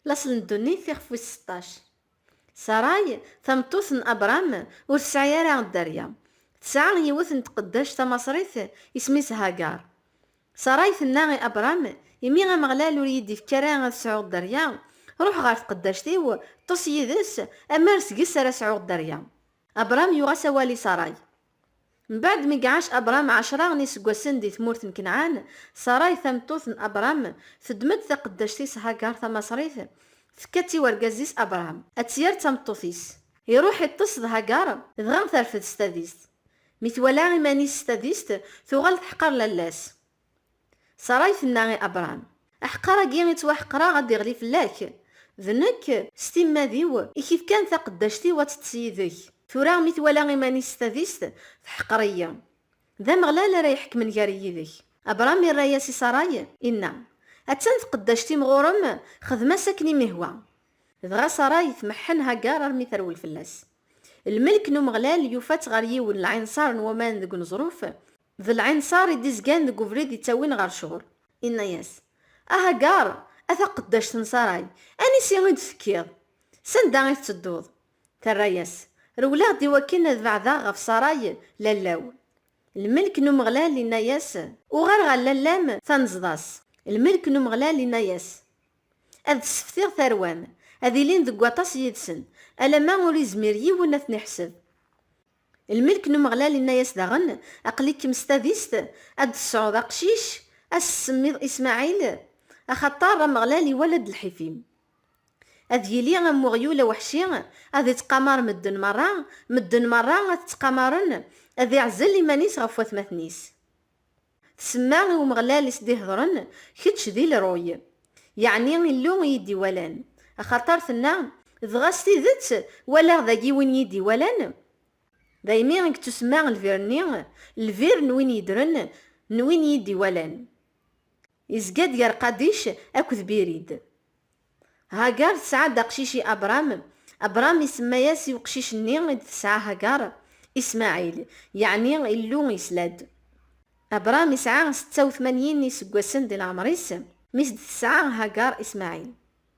Laṣel n ddunit, ixef wis seṭṭac. Saray, tameṭṭut n Abṛam, ur tesɛi ara dderya. Tesɛa yiwet n tqeddact tamaṣrit, isem-is Hagar. Saray tenna i Abṛam, Imi Ameɣlal ur iyi-d-ifekki ara ad sɛuɣ dderya, ruḥ ɣer tqeddact-iw, ṭṭes yid-s, ammer seg-s ara sɛuɣ dderya. Abṛam yuɣ-as awal i Saray. Mbaɛd mi iɛac Abṛam ɛecṛa n iseggasen di tmurt n Kanɛan, Ṣaṛay tameṭṭut n Abṛam teddem-d taqeddact-is Hagar tamaṣrit, tekka-tt i wergaz-is Abṛam, ad tt-yerr d tameṭṭut-is. Iṛuḥ iṭṭes d Hagar, dɣa terfed s tadist. Mi twala iman-is s tadist, tuɣal teḥqer lalla-s. Ṣaṛay tenna i Abṛam, Aḥeqqar-agi i ttwaḥeqqreɣ ad iɣli fell-ak, d nekk, s timmad-iw, i k-ifkan taqeddact-iw ad teṭṭes yid-k. Tura mi twala iman-is s tadist, teḥqer-iyi. D Ameɣlal ara iḥekmen gar-i yid-k. Abṛam irra-yas i Ṣaṛay, inna, Attan tqeddact-im ɣur-m, xdem-as akken i m-ihwa. Dɣa Ṣaṛay tmeḥḥen Haggar armi terwel fell-as. Lmelk n Umeɣlal yufa-tt ɣer yiwen lɛinṣaṛ n waman deg uneẓruf, D lɛinṣer i d-izgan deg ubrid yettawin ɣer cɣel. Inna-yas, A Hagaṛ, a taqeddact n Ṣaṛay, anisi i d-tekkiḍ? S anda i tettedduḍ? Terra-yas, Rewleɣ-d i wakken ad beɛdeɣ ɣef Ṣaṛay, lalla-w. Lmelk n Umeɣlal inna-yas. Uɣal ɣer lalla-m, tanzeḍ-as. Lmelk n Umeɣlal inna-yas, Ad d-sseftiɣ tarwa-m, ad ilin deg waṭas yid-sen, alamma ur izmir yiwen ad ten-iḥseb. Lmelk n Umeɣlal inna-yas daɣen, Aql-ikem s tadist, ad d-tesɛuḍ aqcic, ad s-tsemmiḍ Ismaɛil, axaṭer Ameɣlal iwala-d lḥif-im. Ad yili am weɣyul aweḥci, ad ittqamar medden merra, medden merra ad t-ttqamaren, ad iɛzel iman-is ɣef watmaten-is. Tsemma i Umeɣlal i s-d-iheḍren, Kečč d Ilruy, yeɛni Illu i yi-d-iwalan. Axaṭer tenna, Dɣa s tidet walaɣ dagi win yi-d-iwalan? Daymi i yettusemma lbir-nni, Lbir n win yeddren, n win yi-d-iwalan. Yezga-d gar Qadic akked Birid. Hagar tesɛa-d aqcic i Abṛam, Abṛam isemma-yas i uqcic-nni i d-tesɛa Hagar, Ismaɛil, yeɛni Illu yesla-d. Abṛam isɛa setta u tmanyin n yiseggasen di leɛmeṛ-is mi s-d-tesɛa Hagar Ismaɛil.